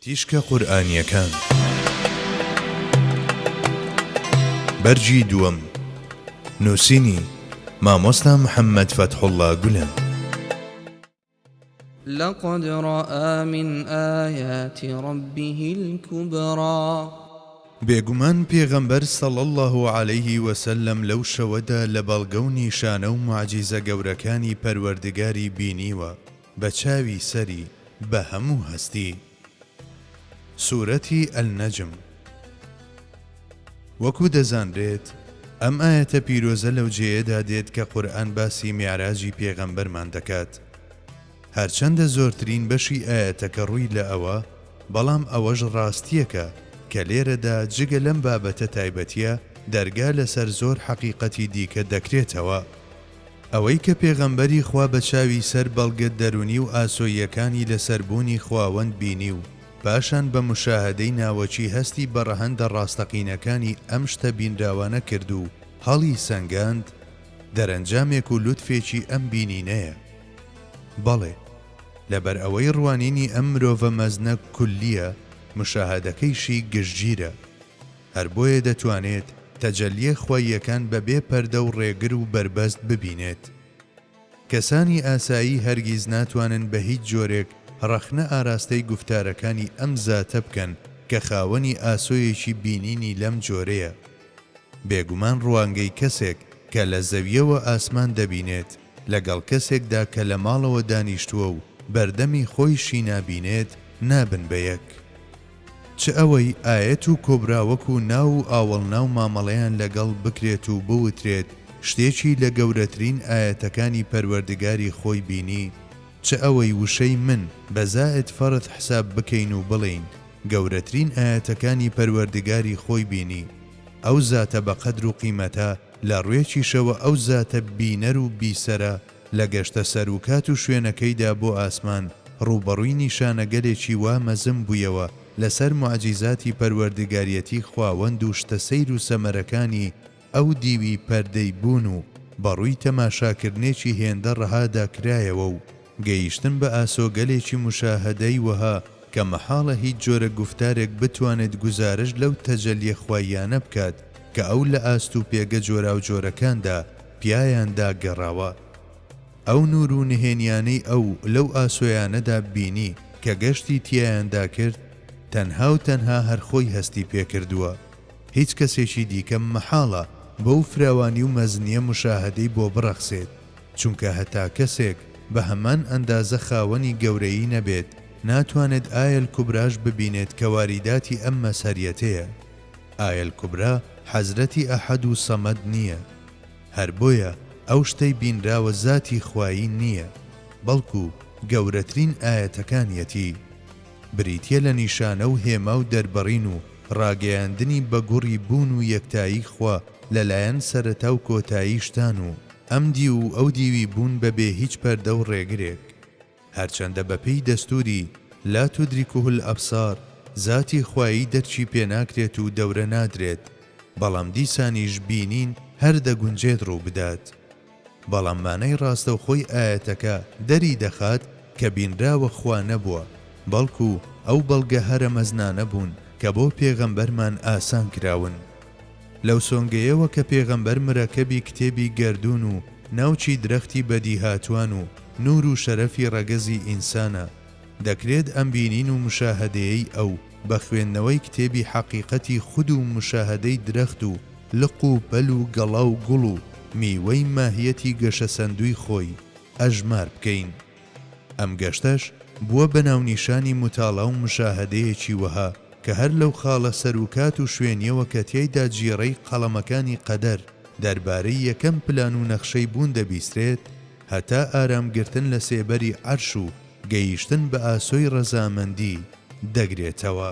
تیشکە قورئانییەکان بەرگی دووەم نووسینی، مامۆستا محەممەد فەتحوڵڵا گولەن. لقد رآ من آیات ربه الکبری. بێگومان پێغەمبەر صلی اللە علیه وسلم لەو شەوەدا لە بەڵگە و نیشانە و موعجیزە گەورەکانی پەروەردگاری بینیوە بە چاوی سەری بە هەموو هەستی. سورەتی النجم. وەکو دەزانرێت ئەم ئایەتە پیرۆزە لەو جێیەدا دێت کە قورئان باسی میعراجی پێغەمبەرمان دەکات هەرچەندە زۆرترین بەشی ئایەتەکە ڕووی لە ئەوە بەڵام ئەوەش ڕاستیەکە کە لێرەدا جگە لەم بابەتە تایبەتیە دەرگا لەسەر زۆر حەقیقەتی دیکە دەکرێتەوە ئەوەی کە پێغەمبەری خوا بە چاوی سەر بەڵگە دەروونی و ئاسۆییەکانی لەسەر بوونی خواوەند بینی و پاشان بە مشاهەدەی ناوەکی هەستی بە ڕەهەندە ڕاستەقینەکانی ئەم شتە بینراوانە کرد و هەڵی سەنگاند دەرەنجامێک و لوتفێکی ئەم بینینەیە بەڵێ لەبەر ئەوەی ڕوانینی ئەم مرۆڤە مەزنە کولیە مشاهەدەکەیشی گشتگیرە. هەر بۆیە دەتوانێت تەجەلییە خواییەکان بە بێ پەردە و ڕێگر و بەربەست ببینێت. کەسانی ئاسایی هەرگیز ناتوانن بە هیچ جۆرێک ڕەخنە ئاراستەی گوفتارەکانی ئەم زاتە بکەن کە خاوەنی ئاسۆیەکی بینینی لەم جۆرەیە. بێگومان ڕوانگەی کەسێک کە لە زەوییەوە ئاسمان دەبینێت لەگەڵ کەسێکدا کە لە ماڵەوە دانیشتووە و بەردەمی خۆیشی نابینێت نابن بە یەک. چ ئەوەی ئایەت و کۆبرا وەکو ناو و ئاوەڵنا و مامەڵەیان لەگەڵ بکرێت و بوترێت شتێکی لە گەورەترین ئایەتەکانی پەروەردگاری خۆی بینی، چ ئەوەی وشەی من بە زائد فرث حساب بکەین و بڵێین گەورەترین ئایەتەکانی پەروەردگاری خۆی بینی، ئەو زاتە بەقەدر و قیمەتە لە ڕوێکیشەوە ئەو زاتە بینەر و بیسەرە، لە گەشتە سەر و کات و شوێنەکەیدا بۆ ئاسمان، ڕووبەڕووی نیشانەگەلێکی وا مەزن بوویەوە لەسەر موعجیزاتی پەروەردگاریەتی خواوەند و شتە سەیر و سەمەرەکانی ئەو دیوی پەردەی بوون و بەڕووی تەماشاکردنێکی هێندە ڕەهادا کرایەوە و گەیشتن بە ئاسۆگەلێکی موشاهەدەی وەها کە مەحاڵە هیچ جۆرە گوفتارێک بتوانێت گوزارشت لەو تەجەلیە خواییانە بکات کە ئەو لە ئاست و پێگە جۆراوجۆرەکاندا پیایاندا گەڕاوە. ئەو نوور و نهێنیانەی ئەو لەو ئاسۆیانەدا بینی کە گەشتی تیایاندا کرد، تەنها و تەنها هەر خۆی هەستی پێکردووە. هیچ کەسێکی دیکە مەحاڵە بەو فراوانی و مەزنیە مشاهەدەی بۆ بڕەخسێت، چونکە هەتا کەسێک بە هەمان ئەندازە خاوەنی گەورەیی نەبێت، ناتوانێت ئایە الکبراش ببینێت کە واریداتی ئەم مەزهەریەتەیە. ئایە الکبری حەزرەتی ئەحەد و سەمەد نیە هەر بۆیە ئەو شتەی بینراوە زاتی خوایی نیە بەڵکو گەورەترین ئایەتەکانیەتی بریتیە لە نیشانە و هێما و دەربڕین و ڕاگەیاندنی بە گوڕی بوون و یەکتایی خوا لەلایەن سەرەتا و کۆتایی شتان و ئەم دیو و ئەو دیوی بوون بەبێ هیچ پەردە و ڕێگرێک. هەرچەندە بەپێی دەستوری، لا تدرکه الابصار، زاتی خوایی دەرکی پێناکرێت و دەورە نادرێت، بەڵام دیسانیش بینین هەر دەگونجێت ڕووبدات. بەڵام مانای ڕاستەوخۆی ئایەتەکە دەریدەخات کە بینراوە خوا نەبووە، بەڵکو ئەو بەڵگە هەرە مەزنانە بوون کە بۆ پێغەمبەرمان ئاسان کراون. لەو سۆنگەیەوە کە پێغەمبەر مرەکەبی کتێبی گەردوون و ناوکی درەختی بەدیهاتوان و نوور و شەرەفی ڕەگەزی ئینسانە، دەکرێت ئەم بینین و مشاهەدەیەی ئەو بە خوێندنەوەی کتێبی حەقیقەتی خود و مشاهەدەی درەخت و لق و پەل و گەڵا و گوڵ و میوەی ماهیەتی گەشەسەندووی خۆی، ئەژمار بکەین. ئەم گەشتەش بووە بە ناونیشانی موتاڵا و مشاهەدەیەکی وەها کە هەر لەو خاڵە سەر و کات و شوێنیەوە کە تیایدا جیڕەی قەڵەمەکانی قەدەر دەربارەی یەکەم پلان و نەخشەی بوون دەبیسترێت هەتا ئارام گرتن لە سێبەری عەرش و گەیشتن بە ئاسۆی ڕەزامەندی دەگرێتەوە.